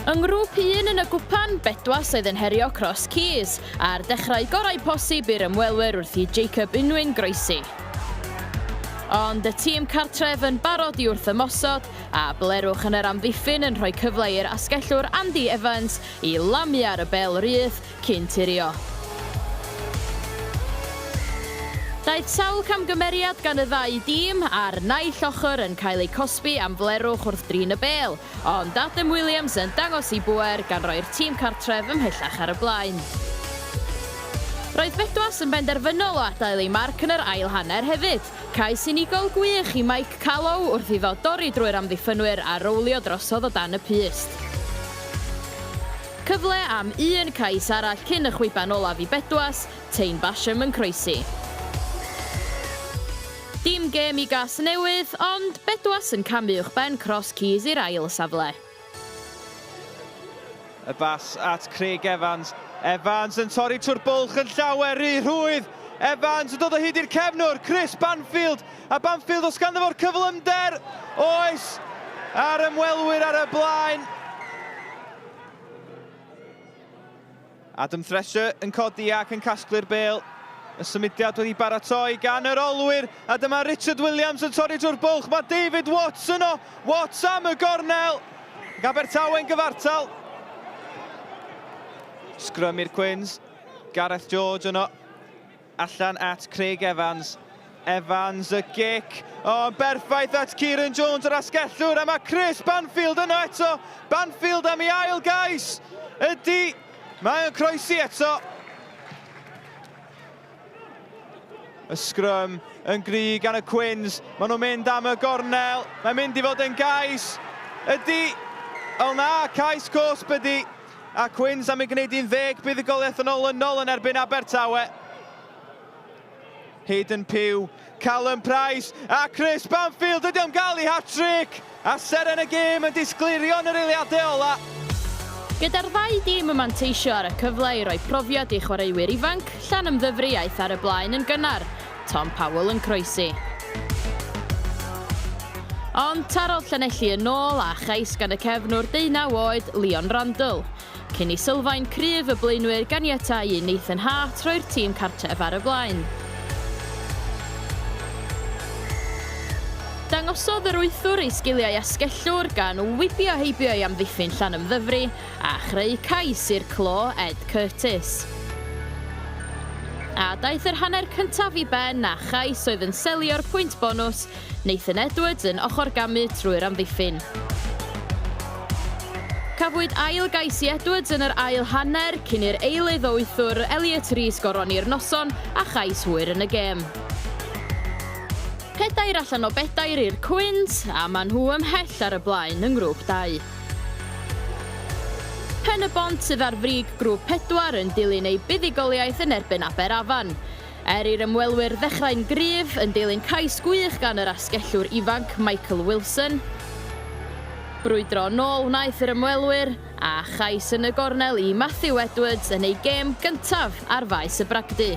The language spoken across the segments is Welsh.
Yng ngrŵp 1 yn y gwpan, Bedwas oedd yn herio Cross Keys, a'r dechrau gorau posib i'r ymwelwyr wrth i Jacob Unwyn groesi. Ond y tîm cartref yn barod i wrth ymosod, a blerwch yn yr amddiffyn yn rhoi cyfle i'r asgellwr Andy Evans i lamu ar y bel rydd cyn turio. Daeth sawl camgymeriad gan y ddau dîm a'r naill ochr yn cael eu cosbi am flerwch wrth drin y bêl, ond Adam Williams yn dangos ei bŵer gan roi'r tîm cartref ymhellach ar y blaen. Roedd Bedwas yn benderfynol o adael ei marc yn yr ail hanner hefyd. Cais unigol gwych i Mike Callow wrth iddo dorri drwy'r amddiffynwyr a rowlio drosodd o dan y pyst. Cyfle am un cais arall cyn y chwiban olaf i Bedwas, Taine Basham yn croesi. Dim gêm i Gasnewydd, ond Bedwas yn camu uwchben Cross Keys i'r ail safle. Y bas at Craig Evans. Evans yn torri trwy'r bwlch yn llawer rhy rhwydd. Evans yn dod o hyd i'r cefnwr, Chris Banfield. A Banfield os ganddo fo'r cyflymder. Oes, a'r ymwelwyr ar y blaen. Adam Thresher yn codi ac yn casglu'r bel. Y symudiad wedi baratoi gan yr olwyr, a dyma Richard Williams yn torri drwy'r bwlch. Mae David Watts yno. Watts am y gornel. Gabertawe'n gyfartal. Sgrym i'r Cwins. Gareth George yno. Allan at Craig Evans. Evans y gic. O, yn berffaith at Kieran Jones yr asgellwr a mae Chris Banfield yno eto. Banfield am ei ail gais. Ydy, mae o'n croesi eto. Y sgrym yn gry gan y Cwins. Maen nhw'n mynd am y gornel. Mae'n mynd i fod yn gais. Ydy, o na, cais cosb ydy. a Quins am ei gwneud 11 buddugoliaeth yn olynol yn erbyn Abertawe. Hayden Pugh, Callum Price a Chris Banfield ydy am gael ei hat-trick a seren y gêm yn disgleirio yn yr eiliadau ola'. Gyda'r ddau dîm yn manteisio ar y cyfle i roi profiad i chwaraewyr ifanc, Llanymddyfri aeth ar y blaen yn gynnar, Tom Powell yn croesi. Ond tarodd Llanelli yn ôl a chais gan y cefnwr deunaw oed, Leon Randle. Cyn i sylfaen cryf y blaenwyr ganiatáu i Nathan Hart roi'r tîm cartref ar y blaen. Dangosodd yr wythwr ei sgiliau asgellwr gan wibio heibio i amddiffyn Llanymddyfri a chreu cais i'r clo Ed Curtis. A daeth yr hanner cyntaf i ben â chais oedd yn selio'r pwynt bonws, Nathan Edwards yn ochrgamu trwy'r amddiffyn. Cafwyd ail gais i Edwards yn yr ail hanner cyn i'r eilydd o wythwr, Elliot Rees goroni'r noson a chais hwyr yn y gêm. Pedair allan o bedair i'r Cwins a maen nhw ymhell ar y blaen yng Ngrŵp Dau. Pen-y-bont sydd ar frig Grŵp Pedwar yn dilyn eu buddugoliaeth yn erbyn Aberafan. Er i'r ymwelwyr ddechrau'n gryf, yn dilyn cais gwych gan yr asgellwr ifanc Michael Wilson, brwydro yn ôl wnaeth yr ymwelwyr, a chais yn y gornel i Matthew Edwards yn eu gêm gyntaf ar faes y bragdy.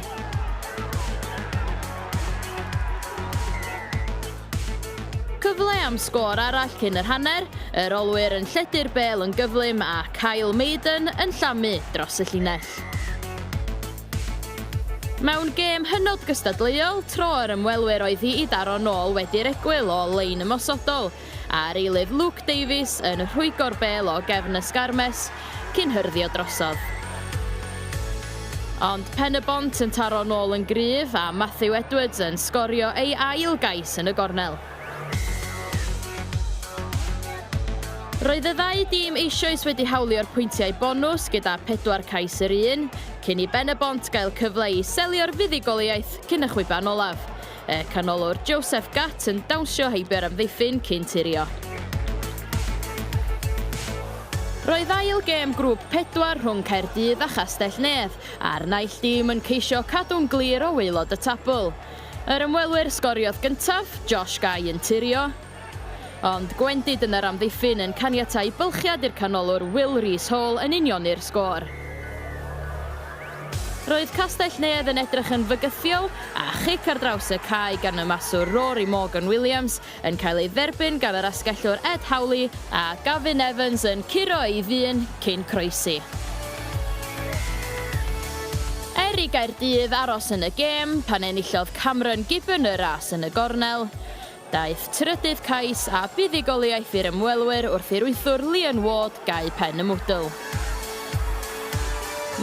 Cyfle am sgôr arall cyn yr hanner, yr olwyr yn lledu'r bêl yn gyflym a Kyle Maiden yn llamu dros y llinell. Mewn gêm hynod gystadleuol, tro yr ymwelwyr oedd hi i daro nôl wedi'r egwyl o lein ymosodol, a'r eilydd Luke Davies yn rhwygo'r bêl o gefn y sgarmes cyn hyrddio drosodd. Ond Pen-y-bont yn taro nôl yn gryf a Matthew Edwards yn sgorio ei ail gais yn y gornel. Roedd y ddau dîm eisioes wedi hawlio'r pwyntiau bonws gyda pedwar cais yr un, cyn i Ben-y-bont gael cyfle i selio'r fuddugoliaeth cyn y chwiban olaf. Y canolwr Joseph Gatt yn dawnsio heibio'r amddiffyn cyn turio. Roedd ail gêm grŵp pedwar rhwng Caerdydd a Chastell-nedd, a'r naill dîm yn ceisio cadw'n glir o waelod y tabl. Yr ymwelwyr sgoriodd gyntaf, Josh Guy yn turio, Ond gwendid yn yr amddiffyn yn caniatáu bylchiad i'r canolwr Will Rees Hall yn unioni'r sgôr. Roedd Castell-nedd yn edrych yn fygythiol, a chic ar draws y cae gan y maswr Rory Morgan Williams yn cael ei dderbyn gan yr asgellwr Ed Howley, a Gavin Evans yn curo ei ddyn cyn croesi. Er i Gaerdydd aros yn y gêm pan enillodd Cameron Gibbon y ras yn y gornel, Daeth trydydd cais a buddugoliaeth i'r ymwelwyr wrth i'r wythwr Leon Ward gau pen y mwdwl.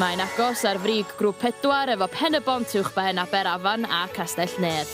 Mae'n agos ar frig Grŵp Pedwar efo Pen-y-bont uwchben Aberafan a Castell-nedd.